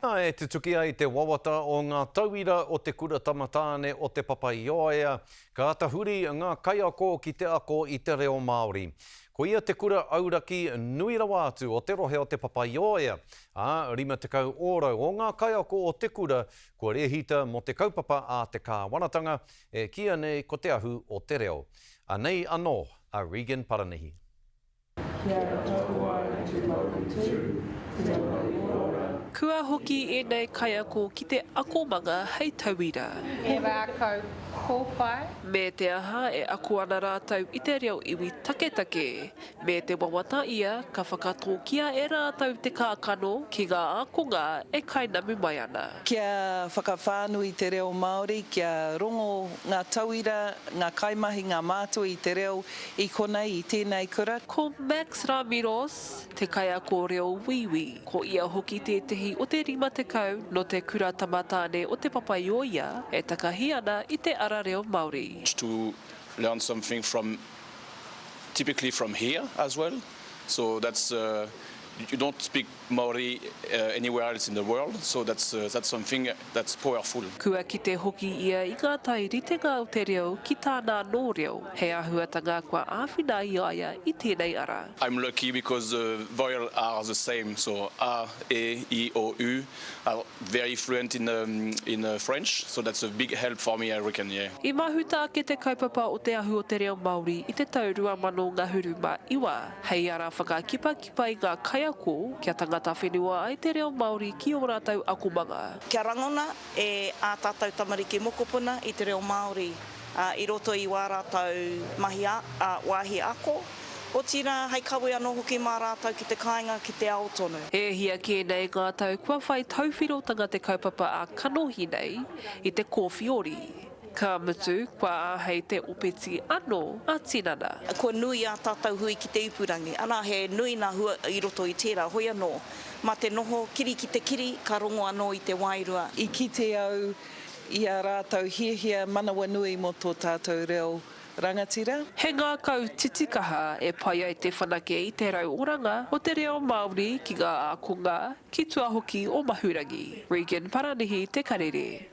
E tutuki ai te wawata o ngā tauira o Te Kura Tamatāne o Te Papa-i-ōea, ka tahuri ngā kaiako ki te ako i te reo Māori. Ko ia te kura auraki nui rawa atu o te rohe o Te Papa-i-ōea, ā, 50 ōrau o ngā kaiako o te kura kua rēhita mō te kaupapa a te Kāwanatanga e kīia nei ko Te Ahu o te Reo. Anei anō a Regan Paranihi. Kia taua e te mauritū, kia mai ora. Kua hoki ēnei kaiako ki te akomanga hei tauira. He rākau kōwhai. Me te aha e ako ana rātou i te reo iwi taketake. Me te wawata ia ka whakatōkia e rātou te kākano ki ngā ākonga e kainamu mai ana. Kia whakawhānui te reo Māori, kia rongo ngā tauira, ngā kaimahi, ngā mātua i te reo, I konei, i tēnei kura. Ko Max Ramiros te kaiako reo Wīwī, ko ia hoki tētehi o te 50 nō te Kura Tamatāne o Te Papaioia e takahi ana i te ara reo Māori. to learn something from typically from here as well so that's uh you don't speak Maori anywhere else in the world, so that's that's something that's powerful. Kua kite hoki ia i ngā tai ritenga o te reo ki tāna anō reo, he āhuatanga kua āwhina ai i a ia i tēnei ara. I'm lucky because the vowel are the same, so a, e, i, o, u are very fluent in in French, so that's a big help for me I reckon, yeah. I mahuta ake te kaupapa o Te Ahu o te Reo Māori i te tau 2019 hei ara whakakipa Pai ngā kaiako kia tangata whenua ai te reo Māori ki ō rātou akomanga. Kia rangona e ā tātou tamariki mokopuna i te reo Māori i roto i wā rātou mahi wāhi ako, otirā hei kawe anō hoki mā rātou ki te kāinga ki te ao tonu. E hia kē nei ngā tau kua whai tauwhirotanga te kaupapa ā-kanohi nei i te kōwhiori. Ka mutu, kua āhei te opeti ano a tinana. Kua nui ā tātou hui ki te ipurangi, arā, he nui ngā hua i roto i tērā, hoi anō, mā te noho kiri ki te kiri, ka rongo anō i te wairua. I kite au i ā rātou hiahia manawanui mō tō tātou reo rangatira. He ngākau titikaha e pai ai te whanake i te rau oranga o te reo Māori ki ngā ākonga, ki tua hoki o Mahurangi. Regan Paranihi Te Karere.